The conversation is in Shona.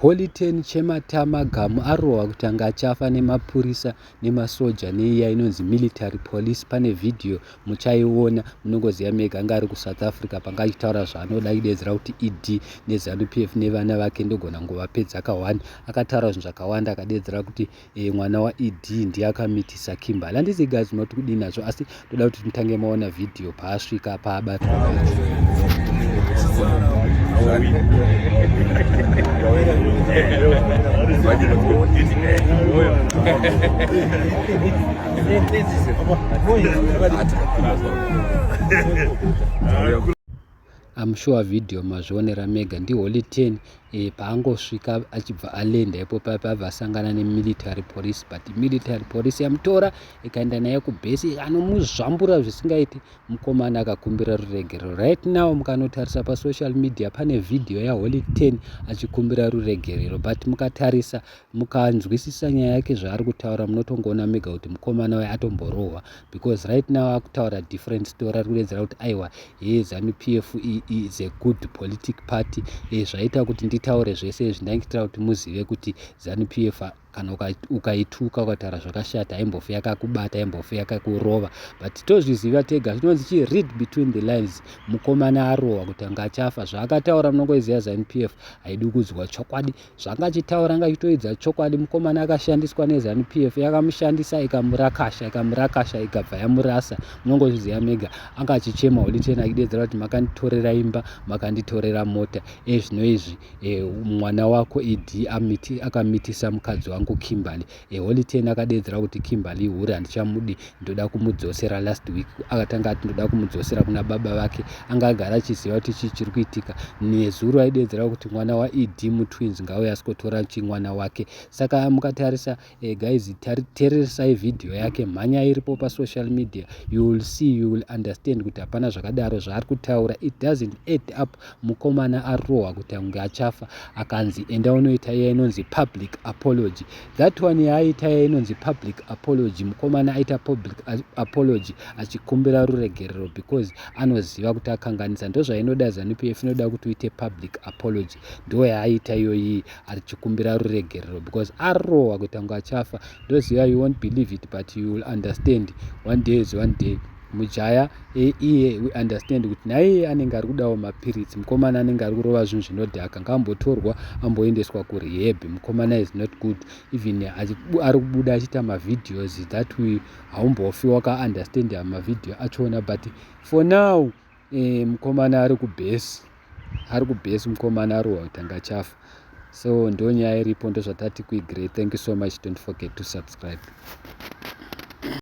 Holy ten chematama gamu arohwa kuti anga achafa nemapurisa nemasoja neiya inonzi military police pane vhidhiyo muchaiona munongoziva mega anga ari kusouth africa panga achitaura zvaanoda idedzera kuti ed nezanu p f nevana vake ndogona nguvapedzaka one akataura zvinhu zvakawanda akadedzera kuti e, mwana waed ndiye akamitisa kimberly handisi guys unoti kudii nazvo asi toda kuti mutange maona vhidhiyo paasvika paabatwa I'm sure video mazvionera mega ndiholy 10 eh, paangosvika achibva alenda ipo paya paabva asangana nemilitary police but military police yamutora ikaenda naye kubhesi anomuzvambura zvisingaiti mukomana akakumbira ruregerero right now mukanotarisa pasocial media pane video yaholy 10 achikumbira ruregerero but mukatarisa mukanzwisisa nyaya yake zvaari kutaura munotongoona mega kuti mukomana waye atomborohwa because right now akutaura different story ari kudedzera kuti aiwa he zanu p f e is a good politic party e zvaita kuti nditaure zvese izvi ndaingitira kuti muzive kuti zanu p f kana ukaituka ukataura zvakashata haimbofi yakakubata haimbofi yakakurova but tozviziva tega zvinonzi chi read between the lines mukomana arohwa kuti anga achafa zvaakataura munongoiziva zanu p f haidi kudzwa chokwadi zvanga achitaura anga achitoidza chokwadi mukomana akashandiswa nezanu p f yakamushandisa ikamurakasha ikamurakasha ikabva yamurasa munongozviziva mega anga achichema oliten achidedzera kuti makanditorera imba makanditorera mota ezvino izvi e, mwana wako ed akamiti, akamitisa mukadzi wangu kimberly eholy ten akadeedzera kuti kimberly hure handichamudi ndoda kumudzosera last week akatanga ati ndoda kumudzosera kuna baba vake anga agara achiziva kuti chii chiri kuitika nezuro aideedzera kuti mwana waed mutwins ngauye asikotora chi mwana wake saka mukatarisa eh, guys tereresai vhidhiyo yake mhanya iripo pasocial media you will see you will understand kuti hapana zvakadaro zvaari kutaura it doesn't add up mukomana arohwa kuti ange achafa akanzi enda unoita iya inonzi public apology that one yaaita iya inonzi public apology mukomana aita public apology achikumbira ruregerero because anoziva kuti akanganisa ndozvainoda zanup f inoda kuti uite public apology ndo yaaita iyoyi achikumbira ruregerero because arohwa kuti ange achafa ndoziva you won't believe it but you will understand one day is one day mujaya e, iye we understand kuti naiye anenge ari kudawo mapiritsi mukomana anenge ari kurova zvinhu zvinodhaka ngaambotorwa amboendeswa kurehab mukomana is not good even ari kubuda achiita mavideos that we haumbofi wakaunderstand mavideo achoona but for now eh, mukomana ari kubhesi ari kubhesi mukomana arohwa kuti angachafa so ndo nyaya iripo ndozvatati kuigre thank you so much don't forget to subscribe